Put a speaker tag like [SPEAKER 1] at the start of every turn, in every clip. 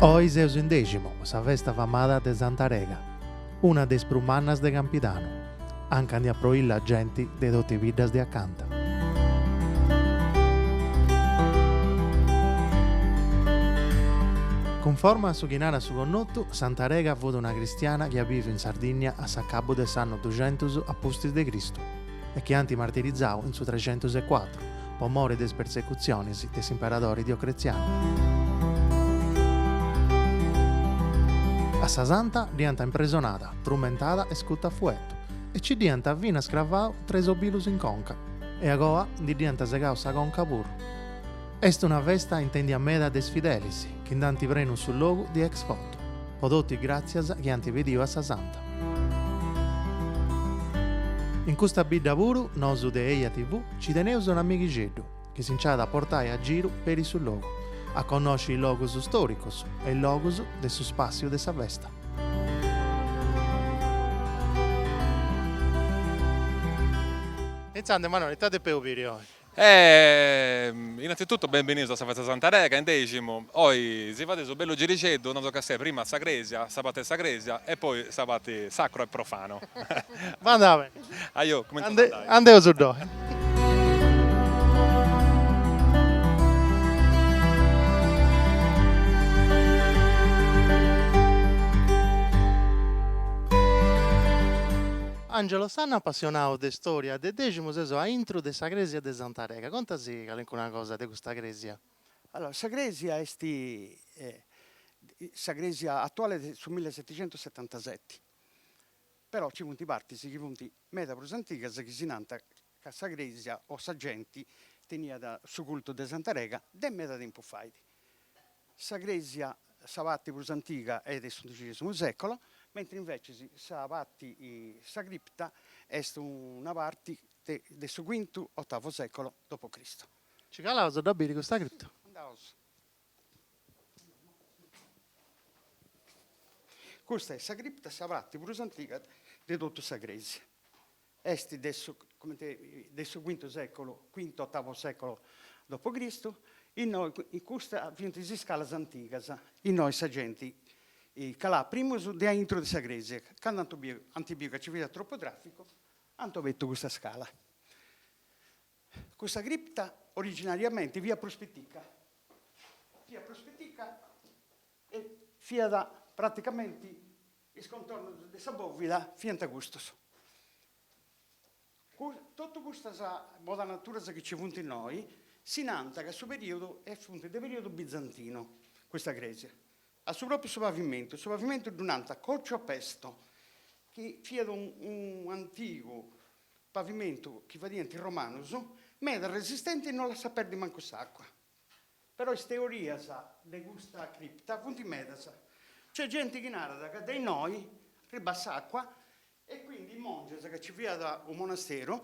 [SPEAKER 1] Oi seus in Dèximu, sa festa famada de Santa Rega, una de is prus mannas de Campidanu, anca ndi aproillat genti de totu is biddas de acanta. Cunforma a su chi narat su connotu, Santa Rega fut una cristiana chi at biviu in Sardìnnia, a s'acabu de s'annu duxentus a pustis de Cristu e chi ant martirizau in su trexentus e cuatru po mori de is persecutzionis de s'imperadori Diocletzianu. A sa santa dd'iant impresonada, trumentada e iscuta a fuetu e nci dd'iant finas cravau tres obilus in conca e a goa ndi dd'iant segau sa conca puru. Est una festa intèndia meda de is fidelis chi nd'ant prenu su logu de ex voto, po totu is gràtzias chi ant pediu a sa Santa. In custa bidda puru nosu de Eja TV nci teneus un amighixeddu chi si nc'at a portai a giru peri su logu, a connosci is logus stòricus e is logus de su spàssiu de sa festa. Intzandus Manueli, ita depeus biri oi?
[SPEAKER 2] E innanzitutto benvenius a sa festa de Santa Rega in Dèximu, oi si fadeus su bellu girixeddu, non so chi siat prima sa crèsia, sa parte de sa crèsia e poi sa parte sacro e profano. Va bene.
[SPEAKER 1] Ajò, cumintzaus
[SPEAKER 2] a andai. Andeus ddoi.
[SPEAKER 1] Angelo Sanna apassionau de storia de Deximu seus a intru de sa cresia de Santa Rega, conta·sì calincuna cosa de custa cresia. Allora sa cresia
[SPEAKER 3] est sa cresia atuale de su milleseticentosetantaseti però ci funt partis chi funt meda prus antigas chi si nant ca sa crèsia o sa genti teniat su cultu de Santa Rega de meda tempus fait. Sa crèsia, sa parti prus antiga est de s'undicesimu sècolo, mentri invecis sa parti, sa cripta, est una parti de su quintu, otavu sècolo dopo Cristo. Nci calaus
[SPEAKER 1] a dda biri custa cripta.
[SPEAKER 3] Andaus. Custa est sa cripta, sa parti prus antiga de totu sa crèsia. Est de su, comente, de su quintu seculu, quintu ottavu seculu dopo Cristu, innoi in custa fiant is iscalas antigas, innoi sa genti calàt primu de aintru de sa cresia, candu ant biu, ant biu ca ci fiat tropu traficu, ant obertu custa scala. Custa cripta originariamenti fiat prus pitica, fiat prus pitica e fiat praticamenti Is contornos de sa bòvida fiant custos. Totu custas modanaturas chi nci funt innoi si nant ca su perìodu e funt de perìodu bizantinu custa crèsia. A su pròpiu su pavimentu, su pavimentu ddu nant còciu a pesto chi fiat un'antigu pavimentu chi fadiant is romanus, meda resistenti e non lassat perdi mancu s'àcua. Però is teorias de custa cripta funt medas. Nc'est genti chi narat ca de innoi arribat s'àcua e quindi is mòngias, ca nci fiat unu monasteru,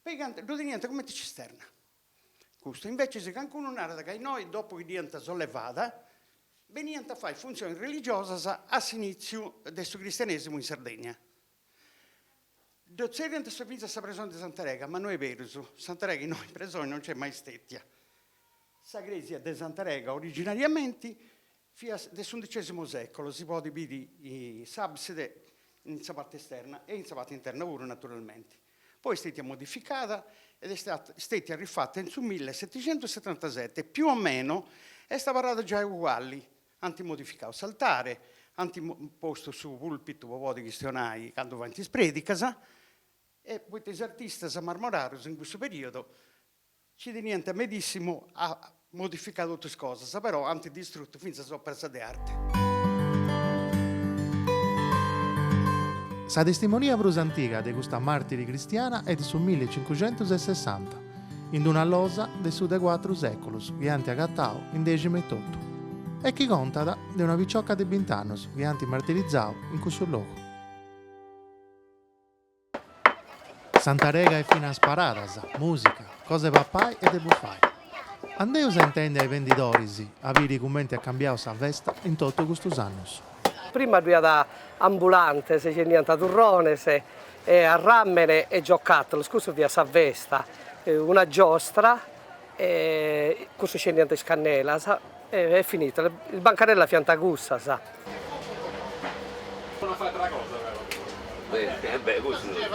[SPEAKER 3] pigant, ddu teniant cumenti cisterna custu. Invècias cancunu narat ca innoi, dopu chi dd'iant sollevada, beniant a fai funtzionis religiosas a s'inìtziu de su cristianesimu in Sardegna. Ddu tzerriant finzas sa presoni de Santarega, ma no est berus, Santarega innoi presoni non nc'est mai stetia. Sa cresia de Santarega originariamenti fiat de s'undicesimo secolo, si podit biri s'abside in sa parti esterna e in sa parti interna puru naturalmenti. Poi est stetia modificada ed est stetia arrifata in su milleseticentussetantasete, più o meno est abarrada giai uguali Ant modificau s'altare, ant postu su pulpitu po podi chistionai candu faint is predicas, e poita is artistas marmorarus in cussu periodu nci teniant medissimu a modificai totu is cosas, però ant distrutu finzas is operas de
[SPEAKER 1] arte. Sa testimonia prus antiga de custa martiri cristiana est de su milli e cincucentus e sessanta. in d-una losa de su de cuatru seculus chi ant agatau in Dèximu etotu e chi contat de una picioca de bint'annus chi ant martirizau in cussu logu. Santa Rega est finas paradas, musica, cosa de papai e de bufai. Andeus a intendi a is bendidoris a biri cumenti at cambiau sa festa in totu custus annus. Prima ddu iat
[SPEAKER 4] ambulantes chi 'endiant turrones e arràmene e giocàtolos, cussa fiat sa festa, una giostra e cussus 'endiant is cannelas e est finito, is bancarellas fiant cussas.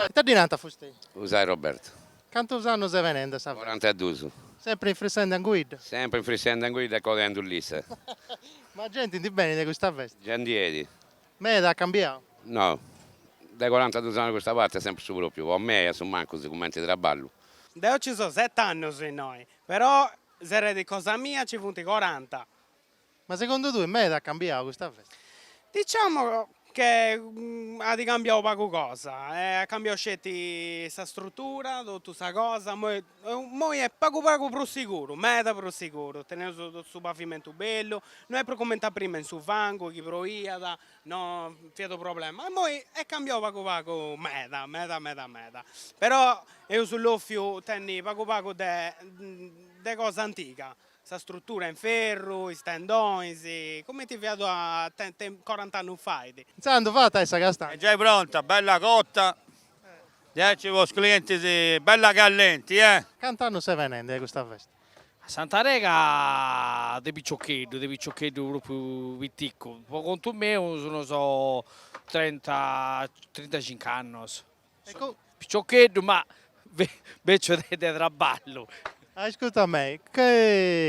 [SPEAKER 2] Ita
[SPEAKER 1] ddi narant fustei? Usai
[SPEAKER 5] Robertu. Cantus annus
[SPEAKER 1] est benende a sa festa? Corantaduus. Sempri
[SPEAKER 5] in frissende
[SPEAKER 1] anguidda? Sempri infrissende anguidda
[SPEAKER 5] e codendi lissa. Ma
[SPEAKER 1] genti ndi benit de custa festa? Giai ndi 'enit.
[SPEAKER 5] Meda
[SPEAKER 1] at cambiau?
[SPEAKER 5] No, dae corantaduus annus a custa parti est sempri su pròpiu, po mei a su mancus cumenti traballu. Deu nci so
[SPEAKER 6] set'annus innoi, però sa genti cosa mia nci funt coranta.
[SPEAKER 1] Ma segundu tui meda at cambiau custa festa?
[SPEAKER 6] Diciamo che at cambiau pagu cosa, at cambiau sceti sa strutura, totu sa cosa, immoi Immoi est pagu pagu prus siguru, meda prus siguru, teneus totu su pavimentu bellu, no est prus cumenti a prima in su fangu chi proiat, no fiat unu problema, immoi est cambiau pagu pagu meda meda meda meda, però eus bofiu tenni pagu pagu de de cosa antiga, sa struttura in ferru, is tendonis, cumenti fiat una te- te corant'annus fait. Intzandus fata est
[SPEAKER 1] sa castanga. Est giai pronta, bella
[SPEAKER 7] cotta, Diaici po is clientis bella callenti eh. Cant'annus
[SPEAKER 1] ses benendi a custa festa? A Santa
[SPEAKER 8] Rega de piccioccheddu, de piccioccheddu propriu piticcu, po contu meu sun sos trenta trintacinc'annos, piccioccheddu ma beccio de traballu. Ascurta
[SPEAKER 1] me,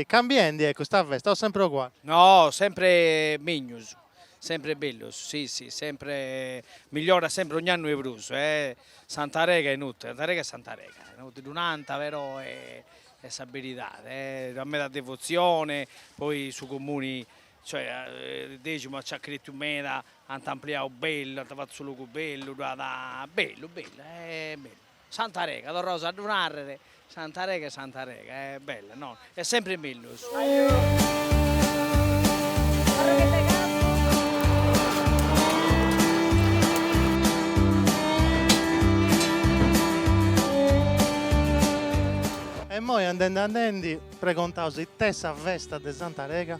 [SPEAKER 1] cambiendi est custa festa o sempre oguali? No sempre
[SPEAKER 8] mellus. Sempre mellus si si sempre migliorat sempre ogn'annu est prus e Santa Rega est inutili Santa Rega est Santa Rega inutili ddu nant però est sa beridade ddu at meda devozione poi su comuni cioè Deximu ci at cretiu meda ant ampliadu bellu ant fatu su logu bellu ddu at bellu bellu bellu Santa Rega, torraus a ddu narrer, Santa Rega est Santa Rega, est bella no, est sempri
[SPEAKER 1] mellus. E immoi andendi andendi pregontaus ite est sa festa de Santa Rega?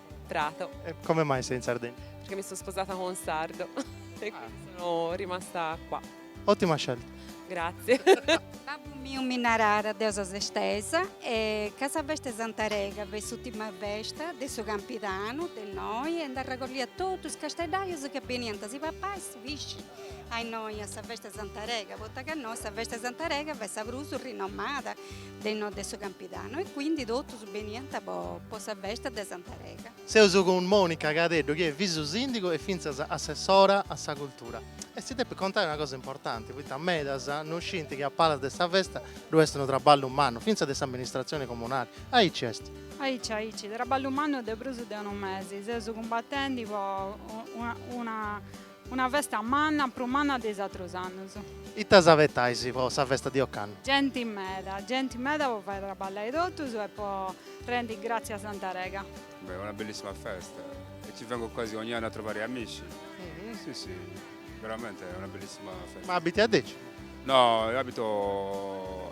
[SPEAKER 9] Prato. E come mai
[SPEAKER 1] sei in Sardegna? Perché mi sono
[SPEAKER 9] sposata con un sardo e quindi ah. sono rimasta qua. Ottima scelta.
[SPEAKER 1] Grazie.
[SPEAKER 9] Babbu
[SPEAKER 10] miu mi narara deu seu sestesa e ca sa festa de Santa Rega fiat s'ultima festa de su campidanu de innoi e nd'arragollia totu is casteddaius ca beniant a si papai su pisci a innoi a sa festa de Santa Rega, poita ca innoi sa festa de Santa Rega fiat sa prusu rinomada de no de su Campidanu e quindi totus beniant po sa festa de Santa Rega. Seus
[SPEAKER 1] cun Monica Cadeddu chi est visu sìndigu e fintzas assessora a sa cultura e si depit contari una cosa importanti poita medas no scint chi a palas de sa festa ddu est unu traballu mannu fintzas de s'amministratzioni comunali, aici est. Aici aici,
[SPEAKER 11] traballu mannu de prus de unu mesi, seus cumbatendi po una Una festa manna, prus manna de is atrus annus. Ita
[SPEAKER 1] s'abetais po sa festa de ocannu? Genti meda,
[SPEAKER 11] genti meda po fai traballai totus e po rendi gratzias a Santa Rega. Beh, una
[SPEAKER 12] bellissima festa e ci vengo quasi ogni anno a trovari amici. Si si, veramente una bellissima festa. Ma abiti a Deci?
[SPEAKER 1] No, abito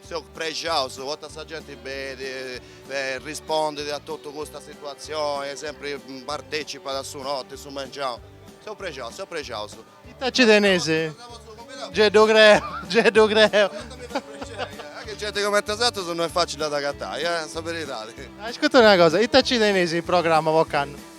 [SPEAKER 13] Seu prexau, poita sa genti benit e rispondit a totu custa situatzioni e sempri partecipat a su noti, su mengianu. Seu prexau, seu prexau. Ita nci
[SPEAKER 1] tenis? Gei ddu creu, gei ddu
[SPEAKER 13] creu. A che genti comenti a bosatrus no est facili a ddas agatai, eh, sa beridadi. Ascurta una cosa,
[SPEAKER 1] ita nci tenis in programma po
[SPEAKER 13] candu?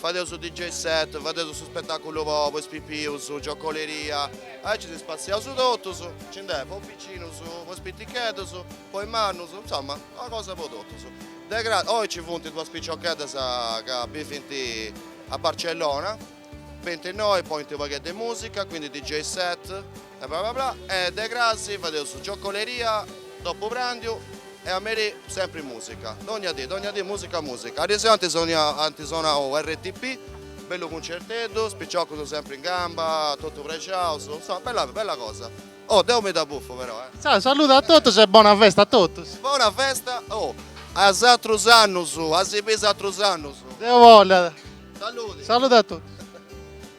[SPEAKER 13] Fadeus su DJ set, fadeus su spetàculu po po is pipius, giocoleria, aici si spassiaus totus, nci nd'est po is picinus, po is piticheddus, po is mannus, insoma, una cosa po totus. De... oi nci funt duas piciocheddas ca bivint a Barcellona, benint innoi, ponint u' pagheddu 'e musica, quindi DJ set, E bla bla bla e de cras fadeus giocoleria dopu pràndiu e a merì sempri mùsica, dònnia dì, dònnia dì mùsica mùsica. Ariseu ant sonau RTP, bellu cuncerteddu, is piciocus sempri in gamba, totu prexaus, insoma bella bella cosa. Oh deu mi dda bufu però eh. Ciau, saludu a
[SPEAKER 1] totus e bona festa a totus. Bona
[SPEAKER 13] festa oh a is atrus annus, a si biri is atrus annus. Deu bollu.
[SPEAKER 1] Saludi. Saludu
[SPEAKER 13] a totus.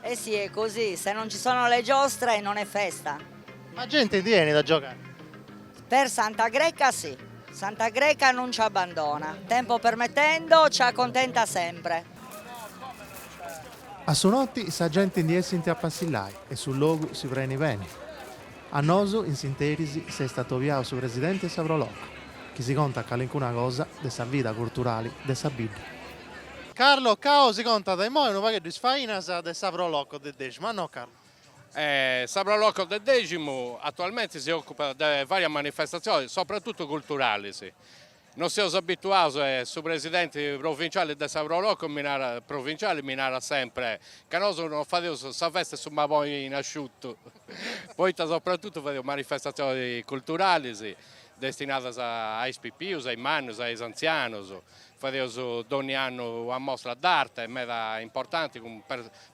[SPEAKER 1] Eh sì, è
[SPEAKER 14] così, se non ci sono le giostre non è festa. Ma gente
[SPEAKER 1] ndi enit a giogai?
[SPEAKER 14] Per Santa Greca si. Santa Greca non ci abbandona, tempo permettendo ci accontenta sempre.
[SPEAKER 1] A su notti sa gente ndi essint a passillai e su logu si preni beni. A nosu in s'interis s'est atobiau su presidenti 'e sa Pro Loco chi si contat calincuna cosa de sa vida curturali de sa bidda. Carlo Cao si contat immoi unu pagheddu is fainas de sa Pro Loco de Dèximu, no Carlo? Sa
[SPEAKER 15] Pro Loco de Dèximu atualmenti si ocupat de varias manifestatzionis, sopratutu culturalis. Nosu seus abituaus, su presidenti provinciali de sa Pro Loco mi narat, provinciali, mi narat sempri ca nosu non fadeus sa festa 'e su macarroni asciutu, poita sopratutu fadeus manifestatzionis culturalis destinadas a is pipius, a is mannus, a is antzianus Fadeus dònnia annu una mostra d'arte meda importanti cun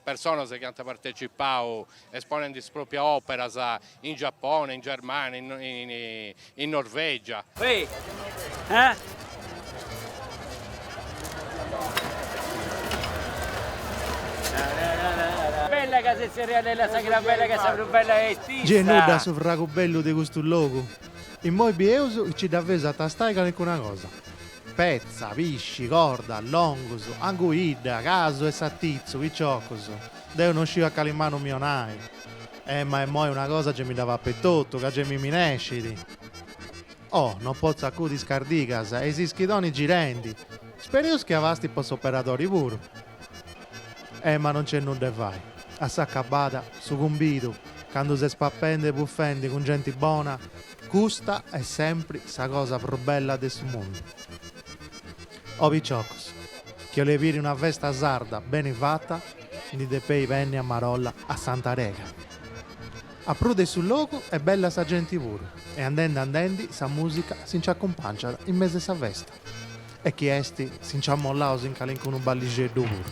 [SPEAKER 15] personas chi ant partecipau esponendi is pròprias òperas in Giapone, in Germània, in Norvègia.
[SPEAKER 16] Gei nudda a su fragu
[SPEAKER 1] bellu de custu logu, immoi bieus si nci dda feus a tastai calicuna cosa. Petza, pisci, corda, longus, anguidda, casu e satitzu, piciocus. Deu no sciu a cali manu mi 'onai. Eh, ma immoi una cosa gei mi dda papu etotu, ca gei mi minescit. Oh, no potzu acudi a is cardigas e is ischidoni girendi. Sperius chi abastit po s'operadori puru. Eh, ma no nc'est nudda 'e fai. A s'acabada, su cumbidu, candu ses pappendi e buffendi cun genti bona, Custa est sempri sa cosa prus bella de su mundu. Oh piciocos, chi 'oleis biri una festa sarda beni fata, ndi depeis benni a marolla a Santa Rega. A prus de su logu est bella sa genti puru e andendi andendi sa musica si nci accumpangiat in mesu 'e sa festa e chi est si nci amollaus in calincunu ballixeddu puru.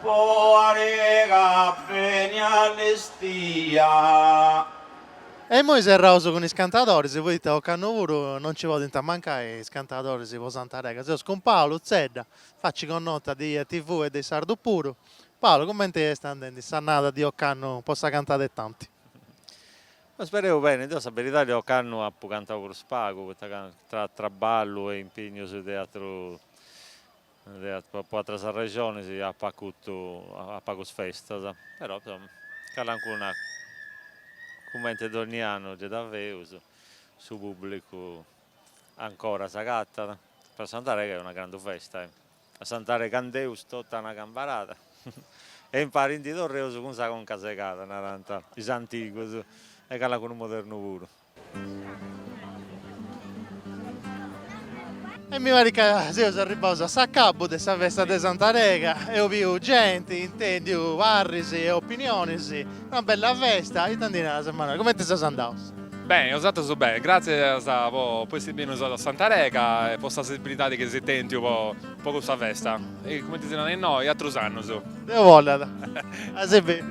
[SPEAKER 17] Po Arega beni allestia. E
[SPEAKER 1] immoi serraus cun is cantadoris, poita ocannu puru non nci podint mancai is cantadoris po Sant'Arega. Seus cun Paolo Zedda, faci connota de EjaTV e de is sardus puru. Paolo, cumenti est andendi s'annada de ocannu po sa cantada e
[SPEAKER 18] tanti? Eh spereus beni, deu sa beridadi ocannu apu cantau prus pagu, poita ca tra traballu e impignus de atrus Diat po atras arrexonis apu acutu a pagus festas, però calancuna cumenti donni annu ddi dda feus, su pubblicu ancora s'agatat, però Santarega est una grandu festa, a Santarega andeus totu a una cambarada e impari ndi torreus cun sa conca segada, narant is antigus e calancunu modernu puru.
[SPEAKER 1] E mi parit ca seus arribbaus a s'acabu de sa festa de Santa Rega, eus biu genti, intendiu parris e opinionis, una bella festa, ita ndi naras Emanuele, cumenti seus andaus? Beni,
[SPEAKER 2] bosatrus beni, gratzias po essi bennius a Santa Rega e po sa sensibilidadi chi eis tentu po Po custa festa. E cumenti si narat innoi, atrus annus. Deus
[SPEAKER 1] bollat. A si biri.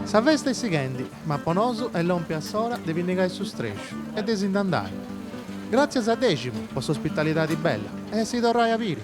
[SPEAKER 1] Sa festa est sighendi, ma po nosu est lompia s'ora de pinnigai su strexu e de si nd'andai. Gràtzias a Dèximu po s'ospitalidadi bella e a si torrai a biri.